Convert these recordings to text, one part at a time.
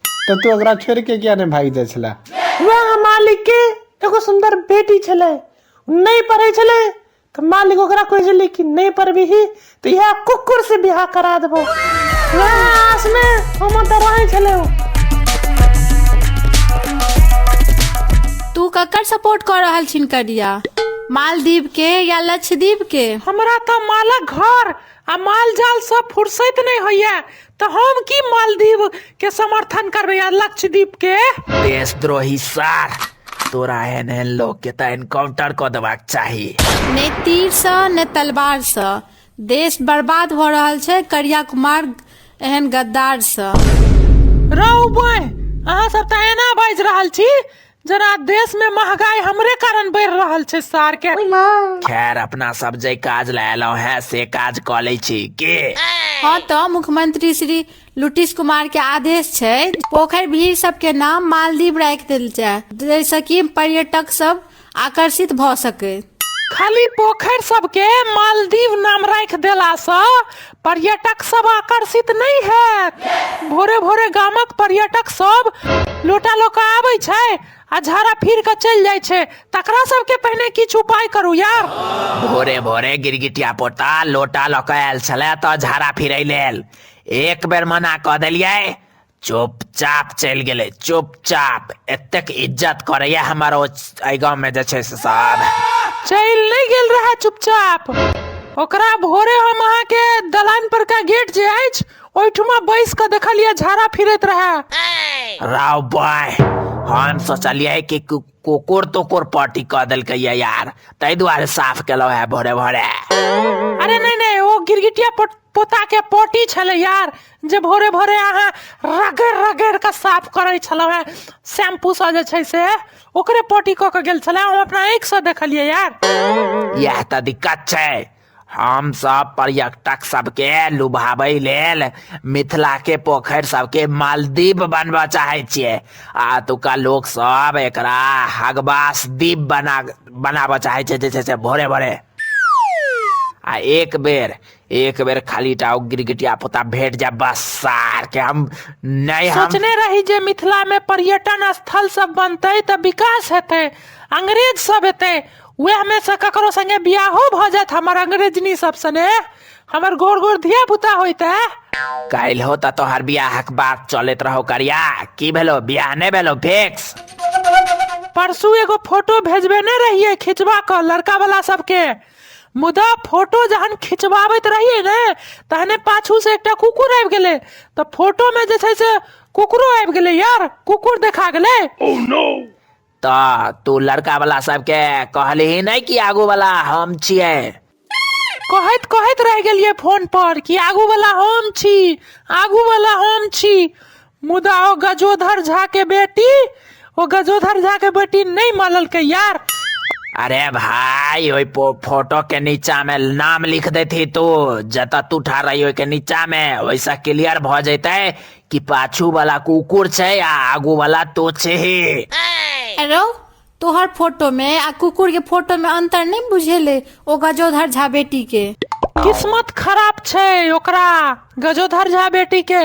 तऽ तू ओकरा छोड़ि कऽ किया नहि भागि जाइ छलए वएह मालिकके एगो सुन्दर बेटी छलै नहि पढ़ै छलै तऽ मालिक ओकरा कहै छलै कि नहि पढ़बिही तऽ इएह कुकुर से बियाह करा देबो वएह आसमे हम तऽ रहै छलै ओ। तू ककर सपोर्ट कर रहल छिन करिया मालदीव के या लक्षद्वीप के हमरा तऽ मालक घर आ माल जाल सब फुर्सत नहीं होइए तो हम की मालदीव के समर्थन करबे या लक्षद्वीप के देशद्रोही सार तोरा एहन एहन लोग के तऽ एनकाउंटर कऽ देबाक चाही नहि तीरसँ नहि तलवारसँ देश बर्बाद भऽ रहल छै करिया कुमार एहन गद्दारसँ रौ बॉय अहाँ सब तऽ एना बाजि रहल छी जरा देश में महंगाई हमरे कारण बढ़ रहल छै सार के खैर अपना सब जे काज लए एलहुँ हैं से काज कऽ लै छी की हँ तऽ मुख्यमंत्री श्री लुटिश कुमार के आदेश छै पोखरि भीड़ सब के नाम मालदीव राखि देल जाय जाहिसँ कि पर्यटक सब आकर्षित भऽ सकै खाली पोखरि सबके मालदीव नाम राखि देलासँ पर्यटक सब आकर्षित नहि हैत भोरे भोरे गामक पर्यटक सब लोटा लऽ कऽ आबै छै आ झाड़ा फिर कऽ चलि जाइ छै तकरा सबके पहिने किछु उपाय करू यार भोरे भोरे गिरगिटिया पोता लोटा लऽ कऽ आयल छलै तऽ झाड़ा फिरै लेल एक बेर मना कऽ देलियै चुपचाप चलि गेलै चुपचाप एतेक इज्जत करैए हमर ओ एहि गाँवमे जे छै से सब चलि नहि गेल रहए चुपचाप ओकरा भोरे हम अहाँके दलान पर का गेट जे अछि ओहिठुमा बैस कऽ देखलियै झाड़ा फिरैत रहए राव बाय हम सोचलियै कि कु- कुकुर तुकुर पट्टी कऽ देलकै ये यार ताहि दुआरे साफ केलहुँ है भोरे भोरे अरे नहि नहि ओ गिरगिटिया पट पोताके पोटी छलै यार जे भोरे भोरे अहाँ रगड़ि रगड़ि कऽ साफ करै छलहुँ हेँ शैम्पूसँ जे छै से ओकरे पोटी कऽ कऽ गेल छलै हम अपना आँखिसँ देखलियै यार इएह तऽ दिक्कत छै हम सब पर्यटक सबके लुभाबै लेल मिथिला के पोखरि सबके मालदीप बनबऽ चाहै छियै आ एतुका लोक सब एकरा हगबास दीप बना बनाबऽ चाहै छै जे छै से भोरे भोरे आ एक बेर एक बेर खाली टा ओ गिरगिटिया पोता भेट जाए बस सार के हम नहि हम सोचने रही जे मिथिला में पर्यटन स्थल सब बनते तऽ विकास हेतै अंग्रेज सब एतै वएह में से ककरो संगे बियाहो भऽ जायत हमर अंग्रेजनी सब सने हमर गोर गोर धिया पुता होइते काल्हि हो तऽ तोहर बियाहक बात चलैत रहो करिया की भेलो बियाह नहि भेलो फिक्स परसू एगो फोटो भेजबेने रहिए खिंचवा कऽ लड़का वाला सबके मुदा फोटो जहन खिंचबाबैत रहियै ने तहने पाछू से एकटा कुकुर आबि गेलै तऽ फोटो में जे छै से कुकुरो आबि गेलै यार कुकुर देखा गेलै तऽ तू लड़का वाला सबके कहलही नहि कि आगू वाला हम छियै कहैत कहैत रहि गेलियै फोन पर कि आगू वाला हम छी आगू वाला हम छी मुदा ओ गजोधर झा के बेटी ओ गजोधर झा के बेटी नहीं मानलकै यार अरे भाई ओई पो फोटो के नीचा में नाम लिख देती तू जता तू ठार रही ओई के नीचा में वैसा क्लियर भ जैते कि पाछू वाला कुकुर छे आ आगू वाला तो छे अरे तोहर फोटो में आ कुकुर के फोटो में अंतर नहीं बुझेले ओ गजोधर झा बेटी के किस्मत खराब छै ओकरा गजोधर झा बेटी के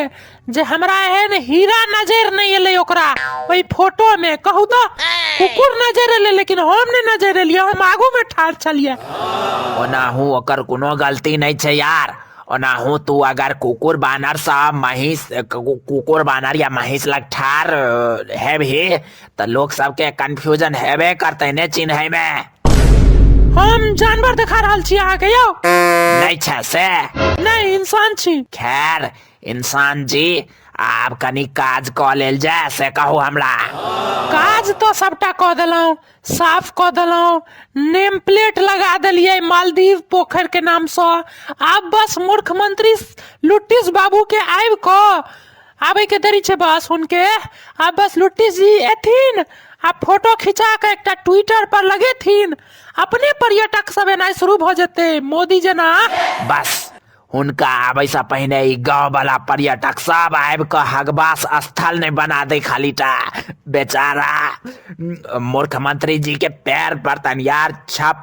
जे हमरा एहन हीरा नजर नहीं एले ओकरा ओई फोटो में कहू तो कुकुर नजर एले लेकिन हम नहीं नजर एलिए हम आगू में ठाढ़ छलिए ओनाहू ओकर कोनो गलती नहीं छै यार ओनाहू तू अगर कुकुर बानर सा महिष कु- कुकुर बानर या महिष लग ठार हेबही तऽ लोक सबके कंफ्यूजन हेबे करतै ने चिन्है मे हम जानवर देखा रहल छी अहाँके यौ नहि छै से नहि इंसान छी खैर इंसान जी आब कनि काज कऽ लेल जाय से कहू हमरा काज तऽ सबटा कऽ देलहुँ साफ कऽ देलहुँ नेम प्लेट लगा देलियै मालदीव पोखरि के नामसँ आब बस मूर्ख मंत्री लुटिस बाबू के आबि कऽ आबे के देरी छै बस हुनके आ बस लुट्टी जी एथिन आ फोटो खिंचा के एकटा ट्विटर पर लगेथिन अपने पर्यटक सब एनाइ शुरू भ जेते मोदी जेना बस हुनका आबे से पहिने ई गांव वाला पर्यटक सब आबि कऽ हगबास स्थल नहि बना दे खाली टा बेचारा मूर्ख मंत्री जी के पैर पर तनियार छप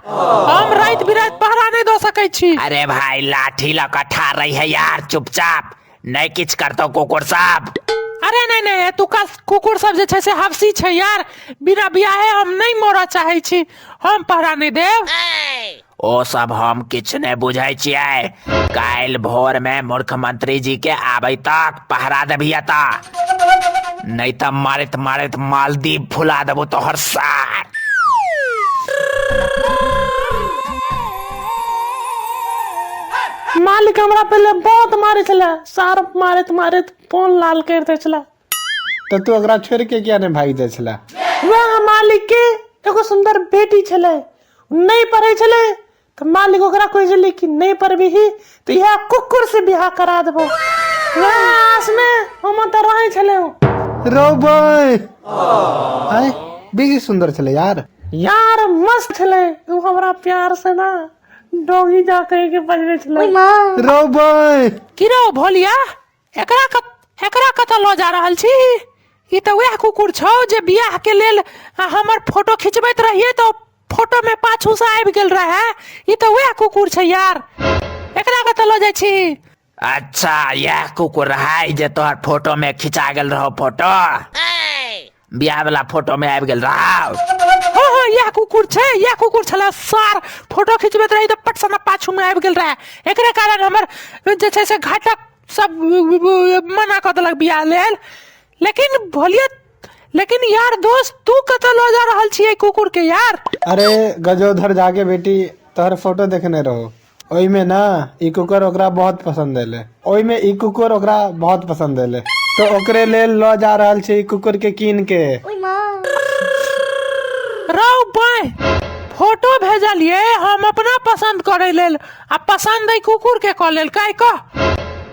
हम रात बिरात पहरा नहीं दो सके छी अरे भाई लाठी लऽ कऽ ठार रही है यार चुपचाप नहि किछु करतौ कुकुर सब अरे नहीं नहीं एतुका कुकुर सब जे छै से हफसी छै यार बिना बियाहे हम नहीं मरऽ चाहे छी हम पहरा नहीं देब ओ सब हम किछु नहि बुझै छियै काल्हि भोर मे मुख्यमंत्री जी के आबै तक पहरा दे भैया ता नहीं तो मारित मारित मालदीप फुला देबो तो हर सार मालिक हमरा पहले बहुत मारे छला सार मारे मारे फोन लाल कर दे छला तो तू ओकरा छोड़ के किया नहीं भाग जाए छला वह मालिक के एगो सुंदर बेटी छले उ नहीं पढ़े छले तऽ मालिक ओकरा कहै छलै कि नहि पढ़बिही तऽ इएह कुकुरसँ बियाह करा देबौ वएह आसमे हम ओतऽ रहै छलहुँ रोबै आय बेसी सुन्दर छलै यार यार मस्त छलै ओ हमरा प्यारसँ ने डोगी जा कहिके बजबै छलै रोबै किरो भोलिया एकरा कत एकरा कतऽ लऽ जा रहल छी ई तऽ वएह कुकुर छौ जे बियाह के लेल आ, हमर फोटो खिंचबैत रहिए तऽ फोटो में पाछू से आबि गेल रहे ई तऽ वएह कुकुर छै यार एकरा कतऽ लऽ जाइ छी अच्छा यह कुकुर है जे तोहर फोटो में खिंचा गेल रहो फोटो बियाह वाला फोटो में आबि गेल राव हाँ हाँ यह कुकुर छै यह कुकुर छला सार फोटो खिंचबैत रही तऽ पट सना पाछू में आबि गेल रहे एकरे कारण हमर जे छै से घटक सब मना कऽ देलक बियाह लेल लेकिन भोलिया लेकिन यार दोस्त तू कतऽ लऽ जा रहल छियै कुकुर के यार अरे गजोधर झा के बेटी तोहर फोटो देखने रहो ओहिमे ने ई कुकर ओकरा बहुत पसन्द एले ओहिमे ई कुकुर ओकरा बहुत पसन्द एले तो ओकरे लेल लऽ जा रहल छै ई कुकुर के कीन के रौ बाय फोटो भेजलिए हम अपना पसन्द करे लेल आ पसन्द है कुकुर के कऽ लेल काय कह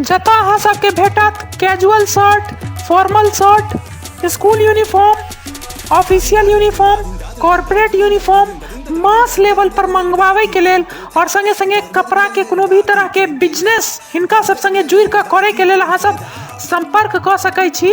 जतय अहाँ सबके भेटत casual shirt formal shirt school uniform official uniform corporate uniform mass level पर मंगवावे के लेल और संगे संगे कपड़ा के कोनो भी तरह के बिजनेस हिनका सब संगे जुड़ के करे के लेल अहाँ सब संपर्क क सकै छी